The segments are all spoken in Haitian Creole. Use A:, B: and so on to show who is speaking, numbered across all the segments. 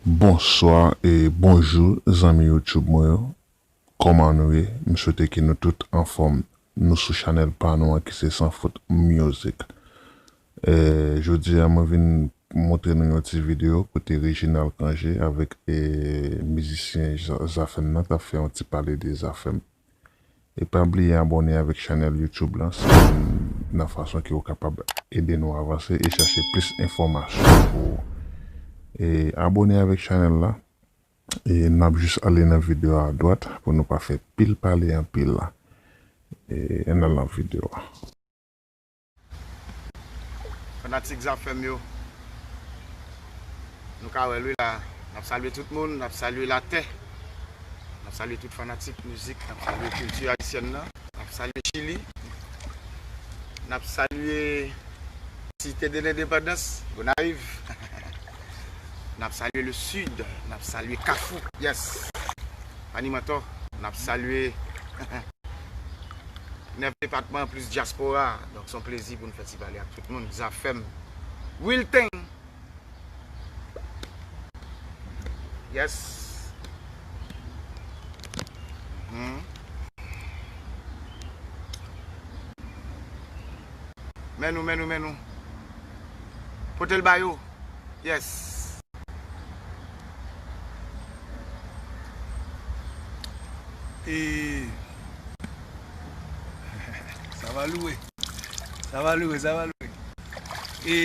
A: Bonswa e bonjou zanmi YouTube mwen yo Koman nou ye m swete ke nou tout anfòm Nou sou chanèl pa nou an ki se Sans Faute Music e jodi a mwen vin montre nou yon ti video kote Reginald Cangé avèk e mizisyen Zafèm nan tap fè yon ti pale de Zafèm. E pa bliye abone avèk chanèl YouTube lan se youn nan fason ke ou kapab ede nou avanse e chache plis enfòmasyon pou ou. E abone avèk chanèl la e nap jis ale nan video a adwat pou nou pa fè pil pale anpil la. E ann al nan video a.
B: Fanatik zafèm yo Nou ka wèl wi la Nap salye tout moun Nap salye latè Nap salye tout fanatik mizik Nap salye kilti ayisyèn nan Nap salye chili Nap salye Site de lendepandans Gonayiv Nap salye le sid Nap salye kafou Yes Animatò Nap salye 9 depatman plis dyaspora donk son plezi pou n fè ti pale ak tout moun zafèm wilten yes humm men nou men nou men nou pote l ba yo yes
C: ee Sa va louwe. Sa va louwe, sa va louwe. E,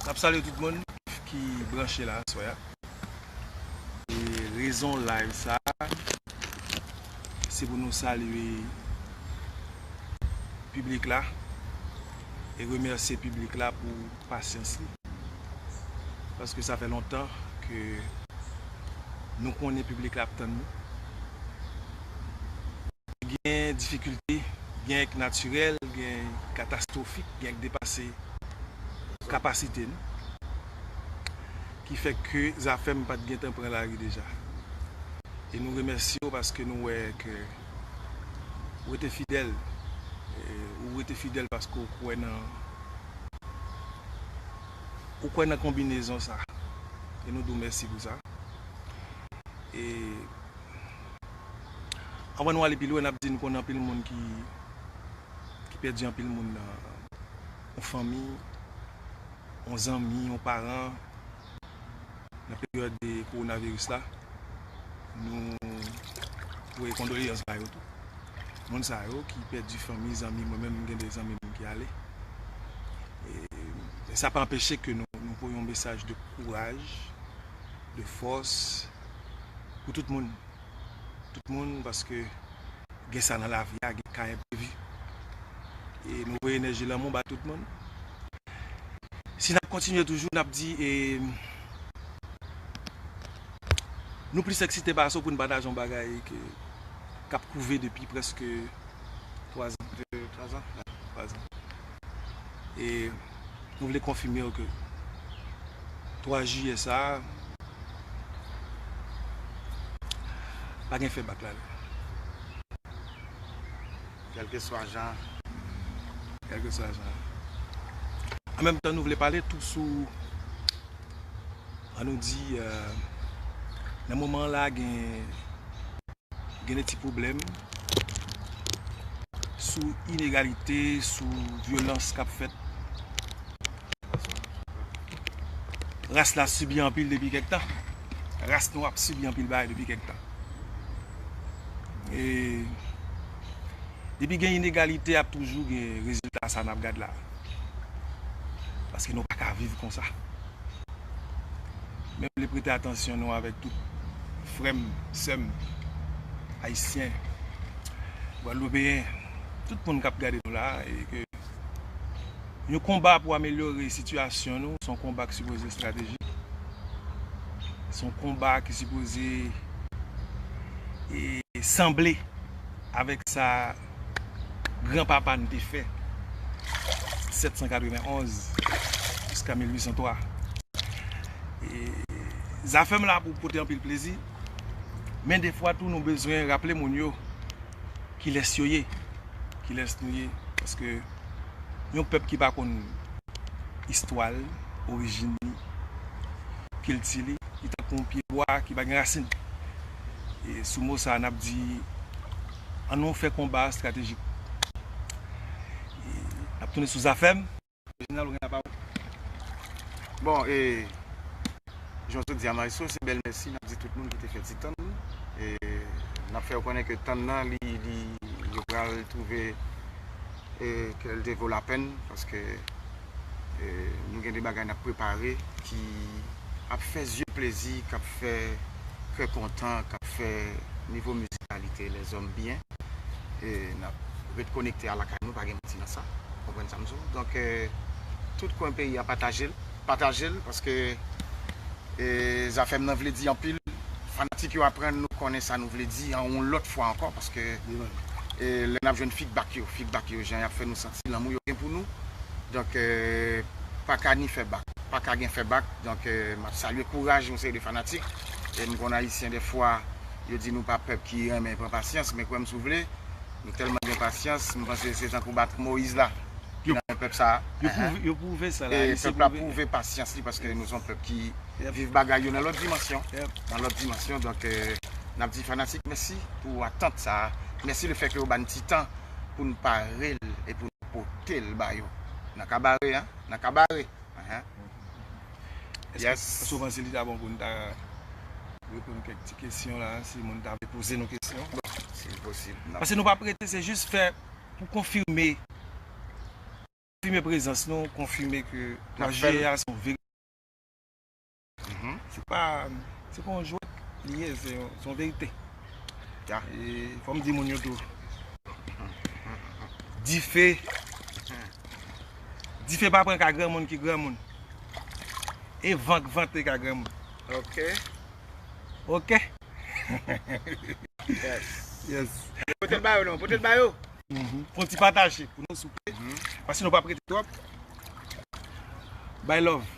C: nap salye tout moun ki branche la aswe a. E, rezon live sa, se pou nou salye publik la. E, remerse publik la pou... pasyans li. Paske sa fè lontan ke nou konnen piblik la ap tann nou. Gen difikilte, gen k natirèl, gen katastwofik, gen k depase kapasite nou. Ki fè ke Zafèm pa t gentan pran lari deja. E nou remèsye w paske nou wè ke. Rete fidèl Ou rete fidèl paske ou kwè nan Ou kwè nan konbinezon sa E nou di w mèsi pou sa E Anvan nou ale pi lwen n ap di nou konnen anpil moun ki Ki pèdi anpil moun nan Yon fanmi Yon zanmi Yon paran nan peryòd de kowonaviris la, nou voye kondoleans ba yo tou. Moun sa yo ki pèdi fanmi, zanmi, mwen menm m gen 2 zanmi m ki ale. E sa pa anpeche ke nou voye yon mesaj de kouraj, de fòs pou tout moun. Tout moun paske Gen sa nan lavi a gen ka enprevi. E mwen voye enèji lanmou ba tout moun. Si nap kontinye toujou nap di e nou plis eksite pase pou nou pataje yon bagay ke kap kouve depi preske 3 zan. e nou vle konfime yo ke 3 jiyè sa a pa gen fè bak la dan.
B: Kèlkeswa jan. Kèlkeswa jan.
C: An menm tan nou vle pale tou sou An nou di nan moman la gen gen de ti pwoblèm sou inegalite, sou vyolans k ap fèt. Ras la sibi anpil depi kèk tan. Ras nou ap sibi anpil bagay depi kèk tan. E depi gen inegalite ap toujou gen rezilta sa n ap gad la. Paske nou pa ka viv konsa. Mwen vle prete atansyon nou avèk tout frè m, sè m, Ayisyen, Gwadloupeyen, tout moun k ap gade nou la a, e ke yon konba pou amelyore sitiyasyon nou, se yon konba ki sipoze estratejik, se yon konba ki sipoze sanble. avèk sa gran papa n te fè 791 jiska 1803 e zafèm la pou pote anpil plezi men defwa tou nou bezwen raple moun yo kilès yo ye kilès nou ye paske yon pèp ki pa konn istwa l orijin li kilti li li tankou yon pye bwa ki pa gen rasin. E sou mo sa a n ap di an nou fè konba a estratejik. E n ap tounen sou Zafèm. Jeneral ou gen la pa ou.
B: Bon e jan w te di a Maestro se bèl mèsi n ap di tout moun ki te fè ti tann. E n ap fè yo konnen ke tann nan li li yo pral twouve e ke l te vo lapèn paske. Nou gen de bagay nap prepare ki ap fè zye plezi, kap fè kè kontan, kap fè nivo mizikalite lèzòm byen. Nap ret konekte a lakay nou, pa gen manti nan sa. Ou konprann sa m di w? Donk, tout kwen peyi a pataje l, pataje l paske zafè m nan vle di anpil. Fanatik yo aprann nou konnen sa nou vle di yon lòt fwa ankò paske lè nap jwenn fidbak yo, fidbak yo jan yap fè nou santi. Si lanmou yo gen pou nou donk pa ka ni fè bak pa ka gen fè bak donk map salye kouraj yon seri de fanatik e m konn ayisyen dèfwa yo di nou pa pèp ki renmen pran pasyans men kwè m si w vle nou tèlman gen pasyans m panse se tankou baton moyiz la ki nan men pèp sa yo pwouve
C: sa e pèp la pwouve
B: pasyans li paske nou se yon pèp ki viv bagay yo nan lòt dimansyon nan lòt dimansyon donk nap di fanatik mèsi pou atant sa mèsi lefèke yo ba n ti tan. pou n pare l e pou n pote l ba yo nan kabare a, nan kabare a. Yes.
C: Èske w panse li ta bon pou n ta reponn kèk ti kesyon la si moun ta vle poze nou kesyon? Bon, si l posib
B: nan. Pase nou pa prete, se
C: jis fè pou konfime, konfime prezans nou, konfime ke 3 jiyè a se yon verite. Se pa yon jwèt li ye, se yon verite. E fò m di moun yo tou, dife, dife pa pran ka granmoun ki granmoun. E van k vante ka granmoun. Ok. Ok. Yes. Pote l ba yo
B: non, pote l ba yo. Fè yon ti
C: pataje pou nou souple, paske nou pa p rete twòp. Bay love.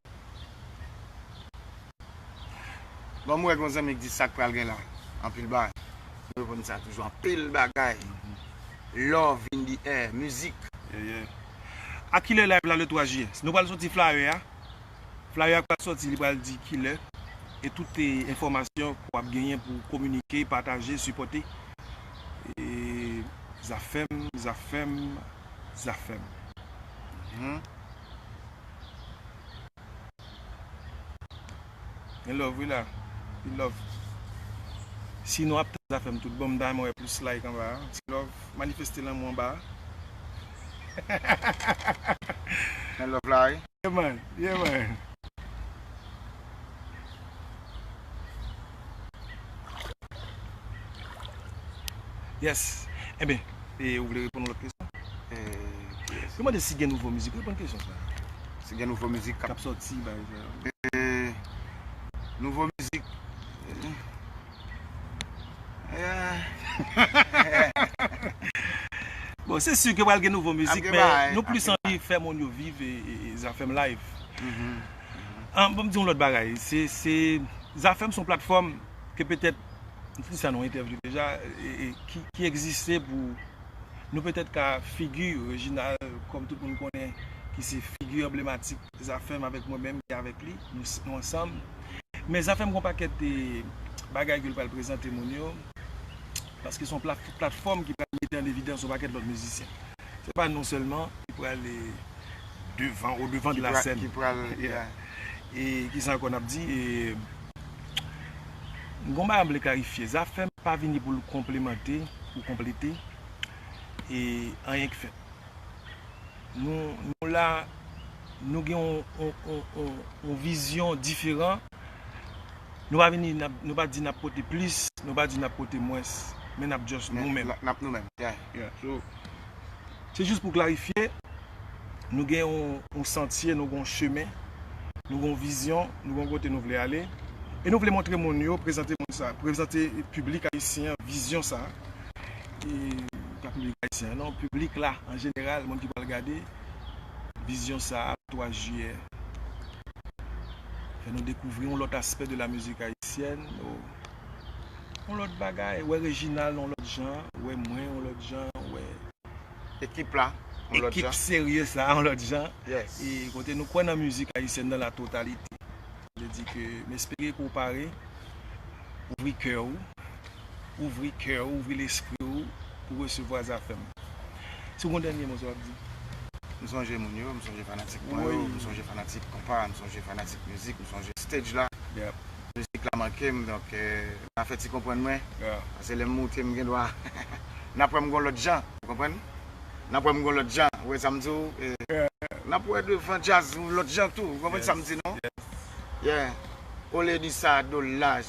B: Banm wè yon zanmi ki di sak pral gen la anpil bagay. Mwen reponn sa toujou anpil bagay love in the air mizik. Yeah yeah
C: A kilè live la le 3 jiyè? Nou pral soti flyer a Flyer a pral soti li pral di kilè e tout enfòmasyon ke w ap genyen pou kominike, pataje, sipòte Zafèm Zafèm Zafèm. Gen love wi la Pil love Si nou ap tann zafem tout bon m ta renmen wè plis like anba a ti love manifeste lanmou anba a
B: Gen love la wi. Yeah man Yeah man.
C: Yes Enben e ou vle reponn lòt kesyon? Eee Yo mande si gen nouvo mizik, reponn kesyon sa a. Si gen nouvo
B: mizik kap sòti bagay sa
C: yo. Eee
B: Nouvo mizik Eee
C: Bon se si ke pral gen nouvo mizik men nou plis anvi fè moun yo viv e Zafèm live Mhmm An bon m di yon lòt bagay se se Zafèm son platfòm ke petèt sa nou entèvjou deja e ki egziste pou nou petèt ka figi Reginald kòm tout moun konnen ki se figi anblematik Zafèm avèk mwen menm ki avèk li nou ansanm men Zafèm gon pakèt te bagay ke l pral prezante moun yo paske son platfòm ki pral mete an evidans yon pakèt lòt mizisyen se pa nou sèlman ki pral e devan o devan de la sèn e ki sa ankò n ap di e. Gon bagay m vle klarifye, Zafèm pa vini pou l konplemante ou konplete anyen k fèt. Nou la, nou gen yon vizyon diferan, nou pa vini, nou pa di n ap pote plis, nou pa di n ap pote mwens, men n ap just nou menm. Se jis pou klarifye, nou gen yon santye, nou gen yon chemen, nou gen yon vizyon, nou gen yon kote nou vle ale, e nou vle montre moun yo, prezante moun sa, prezante piblik ayisyen an vizyon sa, e pa piblik ayisyen an non, piblik la an jeneral, moun ki pral gade, vizyon sa a 3 jiyè. Fè nou dekouvri yon lòt aspè de la mizik ayisyèn. yon lòt bagay, wè Reginald yon lòt jan, wè mwen yon lòt jan, wè ekip
B: la yon lòt jan, ekip serye sa yon
C: lòt jan, e kote nou
B: kwè nan
C: mizik ayisyèn nan la totalite. Sa vle di ke m espere ke w pare, ouvri kè ou, ouvri kè ou, ouvri lespri ou pou resevwa Zafèm. Si w gen yon dènye mo sa w ap di? M sonje
B: moun yo, m sonje fanatik mwen yo, m sonje
C: fanatik
B: konpa, m sonje fanatik mizik, m sonje stage la. Mizik
C: la manke
B: m donk na fè ti konprann mwen pase lè m
C: moute m gen
B: dwa n ap wè m gon lòt jan ou konprann n ap wè m gon lòt jan ou wè sa m di w n ap wè devan djaz yon lòt jan tou ou konprann sa m di nou yeah ole di sa do laj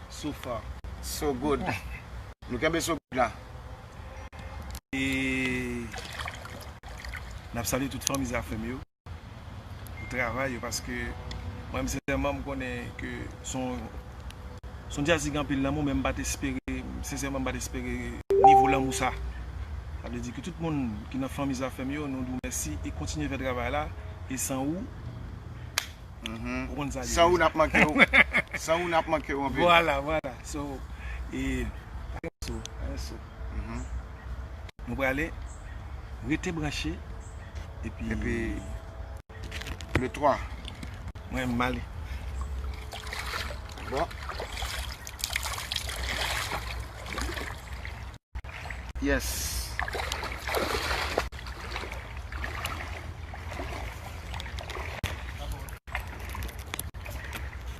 B: sou fò
C: so good
B: nou kenbe so good la e
C: n ap salye tout fanmi zafè m yo. pou travay yo paske mwen m sensèman m konnen ke se yon se yon djaz ki gen anpil lanmou men m pa t espere sensèman m pa t espere nivo lanmou sa sa vle di ke tout moun ki nan fanmi Zafèm yo nou di w mèsi e kontinye fè travay la e san ou ou konn
B: sa ki san ou n ap manke w san ou n ap manke w anpil vwala vwala
C: so e pa gen so pa gen so. Nou prale rete branche epi le 3
B: mwen
C: male
B: bon yes